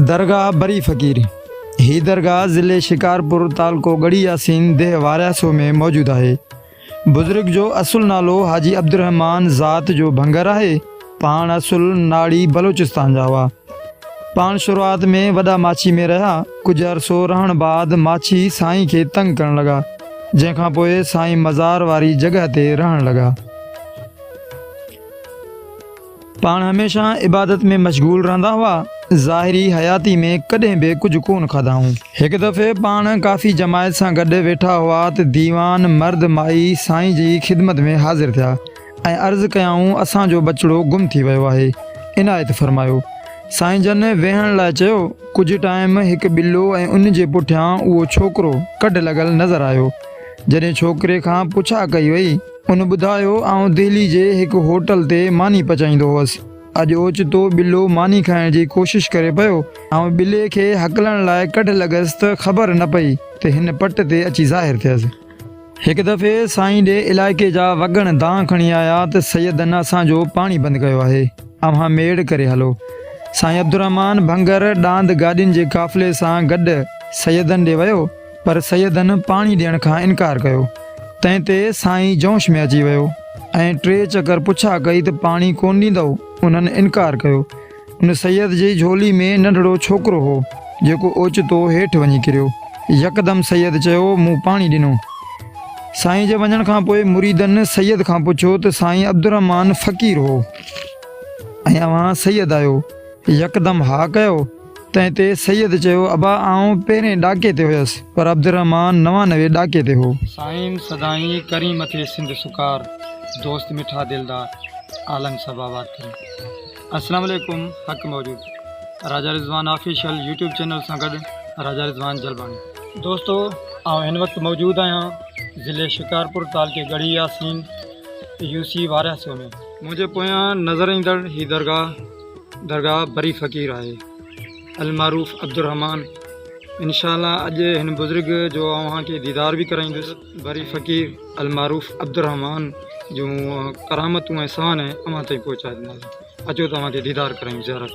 درگاهه بري فقير، هي درگاهه ضلعي شڪارپور تعلقو ڳڙهي ياسين ديهه وارياسو ۾ موجود آهي. بزرگ جو اصل نالو حاجي عبدالرحمان ذات جو ڀنگر آهي، پاڻ اصل ناڙي بلوچستان جا هئا. پاڻ شروعات ۾ وڏا ماڇي ۾ رهيا، ڪجهه عرصو رهڻ بعد ماڇي سائين کي تنگ ڪرڻ لڳا، جنهن کانپوء سائين مزار واري جڳهه تي رهڻ لڳا. پاڻ هميشه عبادت ۾ مشغول رهندا هئا، ظاهري حياتي ۾ ڪڏهن به ڪجهه ڪونه کاڌائون. هڪ دفعي پاڻ ڪافي جماعت سان گڏ ويٺا هئا ته ديوان مرد مائي سائين جي خدمت ۾ حاضر ٿيا ۽ عرض ڪيائون اسان جو ٻچڙو گم ٿي ويو آهي عنايت فرمايو. سائين جن ويهڻ لاء چيو، ڪجهه ٽائيم هڪ ٻلو ۽ ان جي پٺيان اهو ڇوڪرو ڪڍ لڳل نظر آيو. جڏهن ڇوڪري کان پڇا ڪئي وئي. هن ٻڌايو، آئون دهلي جي هڪ هوٽل تي ماني پچائيندو هوس. اڄ اوچتو ٻلو ماني کائڻ جي ڪوشش ڪري پيو. آئون ٻلي کي هڪلڻ لاء ڪڍ لڳس ته خبر نه پئي ته هن پٽ تي اچي ظاهر ٿيس. هڪ دفعي سائين ڏي علائقي جا وڳڻ دانهن کڻي آيا ته سيدن اسان جو پاڻي بند ڪيو آهي، اوهان ميڙ ڪري هلو. سائين عبدالرحمان ڀنگر ڏاند گاڏين جي قافلي سان گڏ سيدن ڏي ويو. پر سيدن پاڻي ڏيڻ کان انڪار ڪيو، تنهن تي سائين جوش ۾ اچي ويو ۽ ٽي چڪر پڇا ڪئي ته پاڻي ڪونه ڏيندؤ؟ انهن انڪار ڪيو. ان سيد جي جهولي ۾ ننڍڙو ڇوڪرو هو، جيڪو اوچتو هيٺ وڃي ڪريو. يڪدم سيد چيو، مون پاڻي ڏنو. سائين جي وڃڻ کان پوء مريدن سيد کان پڇيو ته سائين عبدالرحمان فقير هو ۽ اوهان سيد آهيو؟ يڪدم ها ڪيو. تنهن تي سيد چيو ابا آئون پهرين ڏاڪي تي هيس پر عبدالرحمان نوانوي ڏاڪي تي هو. سائين سدائين ڪرين مٿي سنڌ سکار دوست مٺا دلدار عالم صاحب آباد ڪرين السلام عليڪم حق موجود Raja Rizwan official YouTube channel سان گڏ راجا رضوان جلباڻي. دوستو آئون هن وقت موجود آهيان ضلعي شڪارپور تعلقي ڳڙهي ياسين يو سي وارهه سئو ۾ منهنجي پويان نظر ايندڙ هي درگاهه درگاهه بري فقير آهي المعروف عبدالرحمان انشاءالله اڄ هن بزرگ جو اوهان کي ديدار به ڪرائيندس بري فقير المعروف عبدالرحمان جون ڪرامتون ۽ سوانح اوهان تائين پهچائي ڏناسين اچو ته اوهان کي ديدار ڪرايون زيارت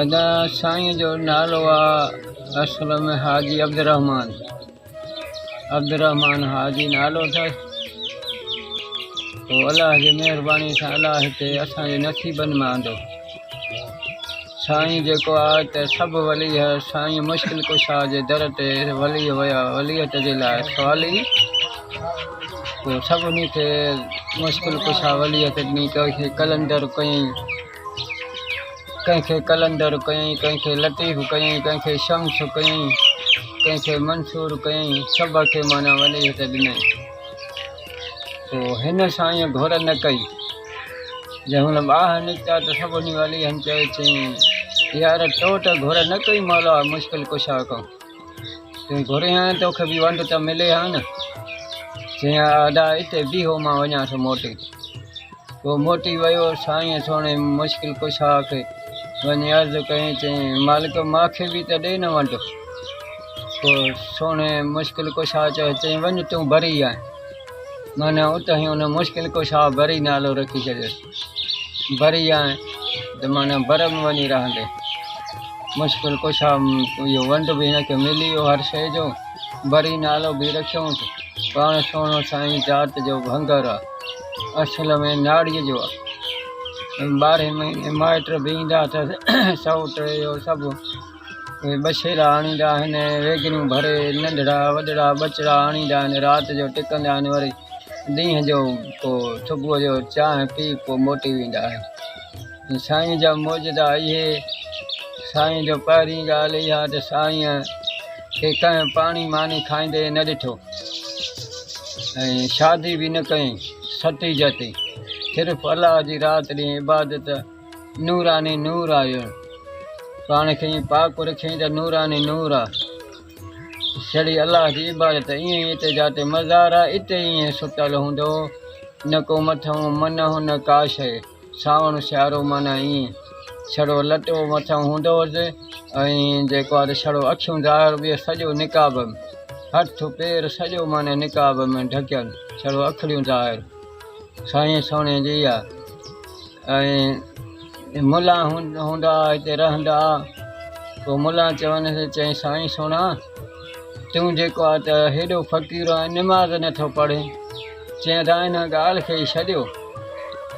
ادا سائين جو نالو آ اصل ۾ حاجي عبدالرحمان عبدالرحمان حاجي نالو اٿس الله جي مهرباني سان الله هتي اسان جي نصيبن مان آندو سائين جيڪو آء ته سڀ ولي ها سائين مشڪل ڪشا جي در تي ولي ويا وليت جي لاء سوالي پوء سڀني کي مشڪل ڪشا وليت ڏني ڪنهن کي قلندر ڪيائين ڪنهن کي قلندر ڪيائين ڪنهن کي لطيف ڪيائين ڪنهن کي شمس ڪيائين ڪنهن کي منصور ڪيائين سڀ کي معنيٰ وليت ڏنائين تو هن سائين گهر نه ڪئي. جنهن هن ٻاهه نڪتا ته سڀ انهي ولي هن چيو چئين يار تو ته گهر نه ڪئي مولا مشڪل ڪشا ڪئون. تون گهرين ها تو کي به ونڊ ته ملي ها نه. چئين آ ادا اتي بيهو مان وڃان ٿو موٽي. پوء موٽي ويو سائينء سهڻي مشڪل ڪشا کي وڃي عرض ڪيائين، چيائين، مالڪ! مان کي به ته ڏي نه ونڊ. پوء سهڻي مشڪل ڪشا چيو، چيائين، وڃ تون بري آهين. معنيٰ اتهين ان مشڪل ڪشا بري نالو رکي ڇڏيس. بري آهين ته معنيٰ بر ۾ وڃي رهندين. مشڪل ڪشا اهو ونڊ به هن کي ملي ويو هر شيء جو، بري نالو به رکيائونس. پاڻ سهڻو سائين ذات جو ڀنگر آهي. اصل ۾ ناڙيء جو آهي. ٻارهين مهيني مائٽ به ايندا اٿس، سئوٽ اهو سڀ اهي ٻشيرا آڻيندا آهن، ويڳڻيون ڀري ننڍڙا وڏڙا ٻچڙا آڻيندا آهن، رات جو ٽڪندا آهن وري ڏينهن جو پوء صبح جو چانهه پي پوء موٽي ويندا آهن. سائين جا معجزا اهي، سائين جو پهرين ڳالهه اها ته سائين کي ڪنهن پاڻي ماني کائيندي نه ڏٺو ۽ شادي به نه ڪئي، ستي جتي صرف الله جي رات ڏينهن عبادت نوراني نور آهي، پاڻ کي ائين پاڪ رکيائين ته نوراني نور آ، سھڙي الله جي عبادت ائين ئي اتي جاتي مزار آ اتي ائين ستل هوندو نه ڪو مٿئون منهون نه ڪا شيء. سانوڻ سيارو معنيٰ ائين سھڙو لٽو مٿان ھوندو ھوس ۽ جيڪو آھي سھڙو اکيون ظاھر ٻيھر سڄو نقاب ھٿ پير سڄو معنيٰ نقاب ۾ ڍڪيل سھڙو اکڙيون ظاھر سائين سھڻي جي اھا ۽ ملان ھوندا ھتي رھندا پوء ملان چونس چئين سائين سھڻا تون جيڪو آهين ته هيڏو فقير ۽ نماز نه ٿو پڙهين. چيائين ته آئين ان ڳالهه کي ئي ڇڏيو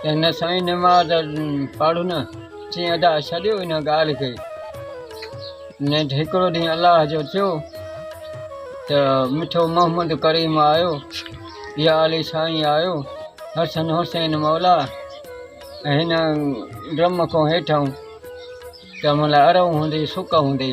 ته نه سائين نماز پڙهه نه. چيائين ادا ڇڏيو ان ڳالهه کي. نيٺ هڪڙو ڏينهن الله جو ٿيو ته مٺو محمد ڪريم آيو يا علي سائين آيو حسن حسين مولا هن ڊرم کان هيٺئون ته ملهه ارئون هوندي سڪ هوندي.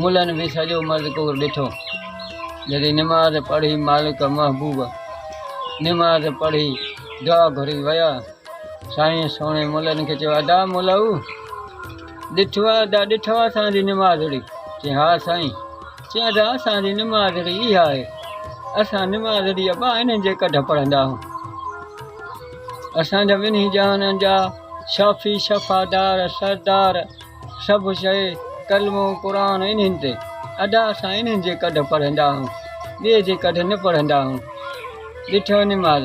ملن به سڄو مذڪور ڏٺو، جڏهن نماز پڙهي مالڪ محبوب نماز پڙهي دعا گهري ويا، سائين سهڻي ملن کي چيو ادا ملؤ ڏٺو آ ادا ڏٺو آ اسان جي نمازڙي؟ چيائين ها سائين، چيائين ادا اسان جي نمازڙي اها آهي، اسان نمازڙي ابا انهن جي ڪڍ پڙهندا هون، اسان جا ٻنهي جهانن جا شافي، شفا دار، سردار. سڀ شيء، ڪلمو قرآن انهن تي. ادا اسان انهن جي ڪڍ پڙهندا آهون، ٻئي جي ڪڍ نه پڙهندا آهون. ڏٺو نماز،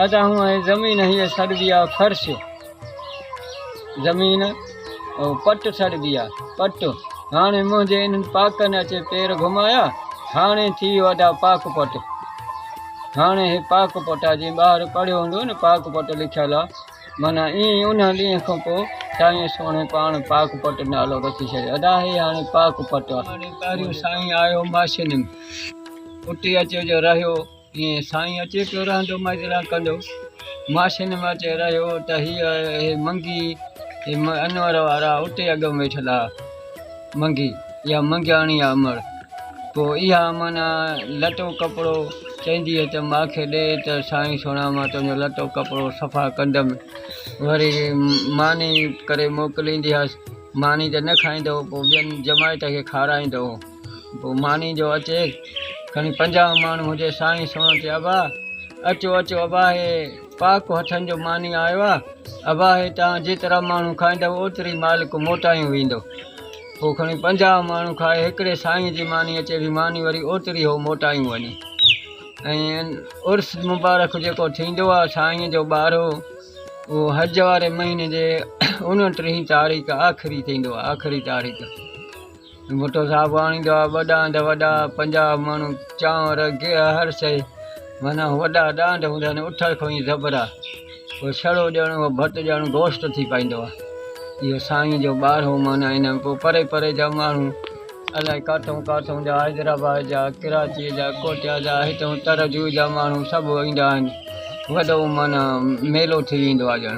ادا هون ۽ زمين هيء سڏبي آهي فرش. زمين او پٽ سڏبي آهي، پٽ. هاڻي منهنجي انهن پاڪن اچي پير گهمايا، هاڻي ٿي ويو ادا پاڪ پٽ. هاڻي هي پاڪ پٽ آهي، جنهن ٻاهر پڙهيو هوندو نه پاڪ پٽ لکيل آهي. معنيٰ ائين ئي ان ڏينهن کان پوء سائينء سهڻي پاڻ پاڪ پٽ نالو رکي ڇڏيو. ادا هي هاڻي پاڪ پٽ آ. هاڻي پهريون سائين آيو ماشينم اتي اچي جو رهيو ائين سائين اچي پيو رهندو مجرا ڪندو ماشين م اچي رهيو ته هي هي منگي هي انور وارا اتي اڳم ويٺل ها. منگي يا منگياڻي آ امڙ پوء اها معنيٰ لٽو ڪپڙو چئنديء ته مان کي ڏي ته سائين سهڻا مان تنهنجو لٽو ڪپڙو صفا ڪندم وري ماني ڪري موڪليندي هيس ماني ته نه کائيندو هو پوء ٻين جماعت کي کارائيندو هو پوء ماني جو اچي کڻي پنجاهه ماڻهو هجي سائين سهڻو چي ابا اچو اچو ابا هي پاڪ هٿن جو ماني آيو آ. ابا هي توهان جيترا ماڻهو کائيندؤ اوتري مالڪ موٽايون ويندو. هو کڻي پنجاهه ماڻهو کائي هڪڙي سائينء جي مانيء چئي ڀي ماني وري اوتري هو موٽايون وڃي. ائين عرس مبارڪ جيڪو ٿيندو آ سائينء جو ٻارهو اهو حج واري مهيني جي اونٽيهين تاريخ آخري ٿيندو آ. آخري تاريخ. ڀٽو صاحب آڻيندو آ ٻه ڏاند وڏا پنجاهه مڻ چانور گيهه هر شيء معنيٰ وڏا ڏاند هوندا آهن اٺل کوهين زبرا پوء ڇڙو ڄڻ اهو ڀٽ ڄڻ گوشت ٿي پائيندو آ اهو سائين جو ٻارهو معنيٰ ان ۾ پوء پري پري جا ماڻهو الائي ڪاٿئون ڪاٿئون جا حيدرآباد جا ڪراچيء جا ڪوٽيا جا هتئون ترجوئي جا ماڻهو سڀ ايندا آهن وڏو معنيٰ ميلو ٿي ويندو آ ڄڻ